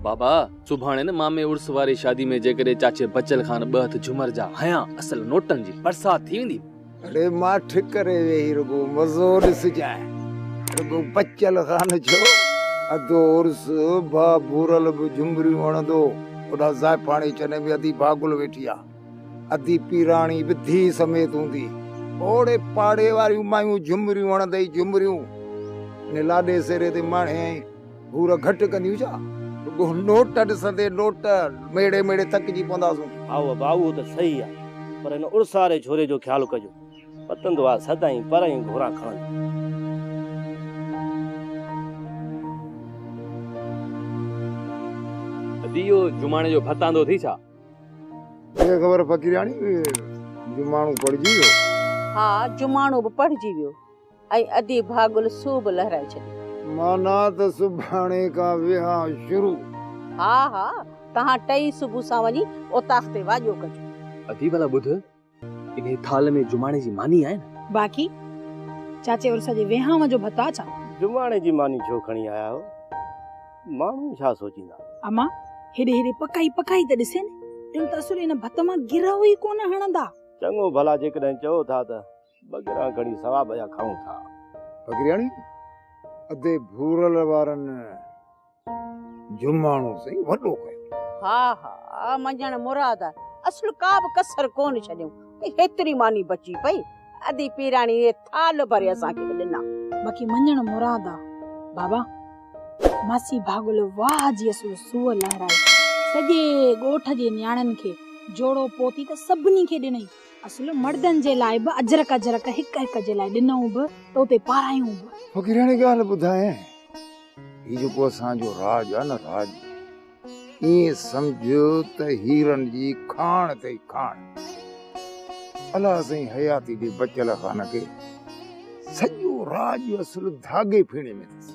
بابا سڀاڻي نه مامي عرس واري شادي ۾ جيڪڏهن چاچي بچل کان ٻه هٿ جهومر جا هنيان اصل نوٽن جي برسات ٿي ويندي. اڙي ماٺ ڪري ويهي رڳو مزو ڏسجانء رڳو بچل خان ڇو اڌو عرس ڀا ڀورل به جهومريون هڻندو هوڏانهن زائفاڻي چني ۾ ادي ڀاگل ويٺي آ ادي پيراڻي به ڌيء سميت هوندي اوڙي پاڙي واريون مايون جهومريون هڻندي جهومريون انهي لاڏي سيري تي ماڻهيائين. گهور گهٽ ڪنديون ڇا؟ رڳو نوٽ ڏسندي نوٽ ميڙي ميڙي ٿڪجي پونداسون. ها هو ڀاء اهو ته صحيح آ پر هن اڙساري ڇوري جو خيال ڪجو. پتندو آ سدائين پر ۽ گهوران کڻندو. ادي اهو جماڻي جو ڀت آندو اٿئي ڇا؟ ڪنهن کي خبر فقيرياڻي جماڻو پڙهجي ويو. ها جماڻو به پڙهجي ويو. ۽ ادي ڀاڳل سو به لهرائي ڇڏي. معنيٰ ته سڀاڻي کان ويهان شروع. ها ها توهان ٽئي صبح سان وڃي اوطاق تي واڄو ڪجو. ادي ڀلا ٻڌ انهي ٿالهه ۾ جماڻي جي ماني آهي نه؟ باقي چاچي عرس جي ويهانء جو ڀت آ ڇا؟ جماڻي جي ماني ڇو کڻي آيا آهيو؟ ماڻهو ڇا سوچيندا؟ اما هيڏي هيڏي پڪائي پڪائي ته ڏسين، ٽيون ته اصل ان ڀت مان گرهه ئي ڪونه هڻندا. چڱو ڀلا جيڪڏهن چئو ٿا ته ٻگهرا کڻي ثواب جا کائون ٿا. ٻگهرياڻي، ادي ڀورل وارن جماڻو سائين وڏو ڪيو. ها ها مڃڻ مراد آ. اصل ڪا به ڪسر ڪونه ڇڏيون. هيتري ماني بچي پئي. ادي پيراڻي اهي ٿالهه ڀري اسان کي به ڏنا. باقي مڃڻ مراد آ. بابا، ماسي ڀاڳل واهه جي اصل سوء لهرائي سڄي ڳوٺ جي نياڻين کي جوڙو پوتي ته سڀني کي ڏنئي. اصل مڙدن جي لاء به اجرڪ اجرڪ هڪ هڪ جي لاء ڏنئون به ته اتي پارايون به. فقيراڻي ڳالهه ٻڌايائين، هي جيڪو اسان جو راڄ آهي نه راڄ، ائين سمجهه ته هيرن جي کاڻ اٿئي کاڻ. الا سائين حياتي جي بچيل خان کي سڄو راڄ اصل ڌاڳي ڦيڻي ۾ اٿس.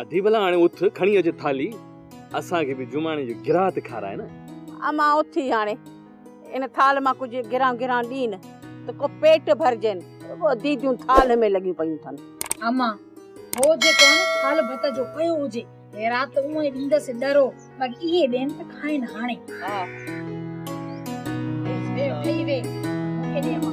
ادي ڀلا هاڻي اٿ کڻي اچ ٿالهي، اسان کي به جماڻي جو گراهه ته کاراء نه. امان اٿي هاڻي. ان ٿالهه مان ڪجهه گران گران ڏين ته ڪو پيٽ ڀرجين. رڳو ديديون ٿالهه ۾ لڳيون پيون ٿن. اما، هو جيڪو آهن ٿالهه ڀت جو پيو هجي، هيرا ته اونئي ڏيندس ڏرو، پر اهي ڏين ته کائين هاڻي. ها. بس ويهه ٺهي ويهه، مون کي ڏي اما.